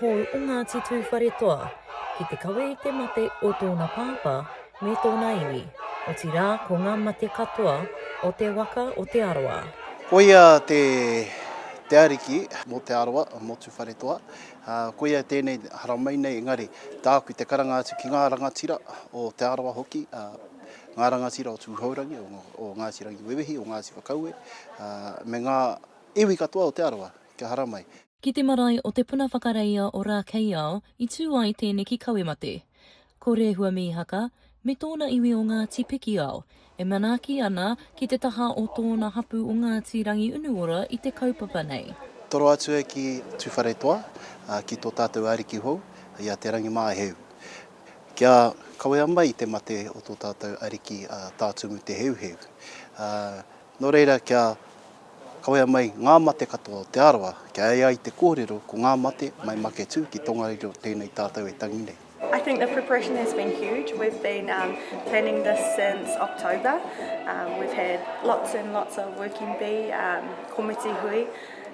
hou o Ngāti Tūwharetoa ki te kawe i te mate o tōna pāpā me tōna iwi, otirā ko ngā mate katoa o te waka o Te Arawa. Koia te te ariki mō Te Arawa, mō Tūwharetoa, ā, koia tēnei haramai nei, engari tāku te karanga atu ki ngā rangatira o Te Arawa hoki, ā, ngā rangatira o Tūhourangi, o Ngāti Rangiwewehi, o Ngāti Whakaue, ā, me ngā iwi katoa o Te Arawa kia haramai. Ki te marae o Te Puna Whakareia o Rākeiao i tū ai tēneki kawe mate. Ko Rehua Mīhaka me tōna iwi o Ngāti Pikiao e manaaki ana ki te taha o tōna hapū o Ngāti Rangiunuora i te kaupapa nei. Toro atu e ki Tūwharetoa, ki tō tātou ariki hou, i a Te Rangimāheu. Kia kawea mai i te mate o tō tātou ariki a Tātumu Te Heuheu. Nō reira kia kawea mai ngā mate katoa o Te Arawa, kia ea ai te kōrero ko ngā mate mai Maketū ki Tongariro tēnei tātou e tangi nei. I think the preparation has been huge, we've been um, planning this since October, um, we've had lots and lots of working bee um, komiti hui,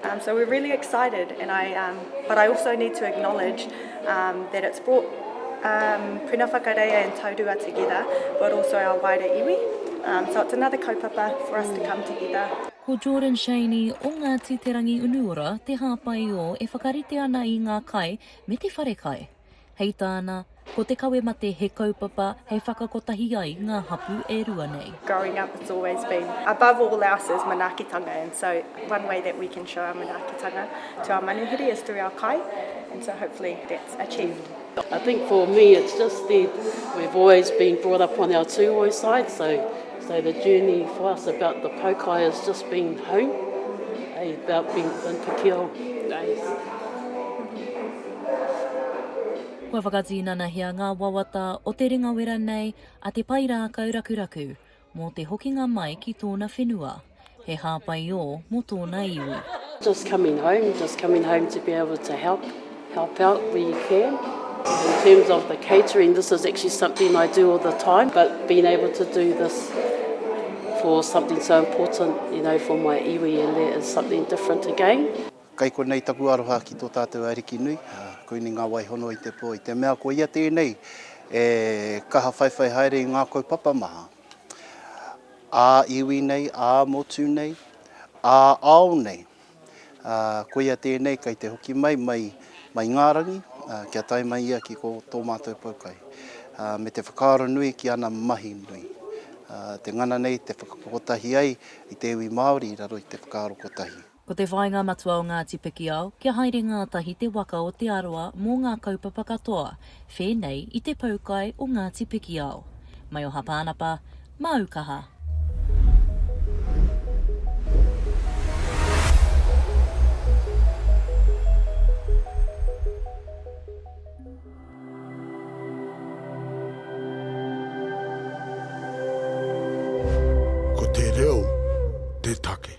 Um, so we're really excited, and I, um, but I also need to acknowledge um, that it's brought um, Puna Whakareia and Taurua together, but also our wider iwi. Um, so it's another kaupapa for us to come together. Ko Jordan Shaney o Ngāti Te Rangi Unuora te hāpai o e whakarite ana i ngā kai me te wharekai. Hei tāna, ko te kawe mate he kaupapa hei whakakotahi ai ngā hapū e rua nei. Growing up it's always been above all else is manaakitanga and so one way that we can show our manaakitanga to our manuhiri is through our kai and so hopefully that's achieved. I think for me it's just the, we've always been brought up on our tūoi side, so, so the journey for us about the poukai has just been home, eh, about being in Te Keo days. Kua whakatinanahia ngā wawata o te ringawera nei a Te Pairākau Rakuraku mō te hokinga mai ki tōna whenua, he hāpaiō mō tōna iwi. Just coming home, just coming home to be able to help, help out where you can. In terms of the catering, this is actually something I do all the time, but being able to do this for something so important, you know, for my iwi and that is something different again. Kai konei taku aroha ki tō tātou Ariki nui, koinei ngā waihono i te pō, i te mea ko ia tēnei e kaha whaiwhai haere i ngā kaupapa maha ā iwi nei, ā motu nei, ā ao nei. Ko ia tēnei kei te hoki mai, mai i ngā rangi, kia tae mai ia ki ko tō mātou poukai, me te whakaaro nui ki ana mahi nui. Te ngana nei te whakakotahi ai i te iwi Māori i raro i te whakaaro kotahi. Ko te whāinga matua o Ngāti Pikiao, kia haere ngātahi te waka o Te Arawa mō ngā kaupapa katoa, whēnei i te poukai o Ngāti Pikiao. Maioha Pānapa, māu kaha! Ko te reo te take.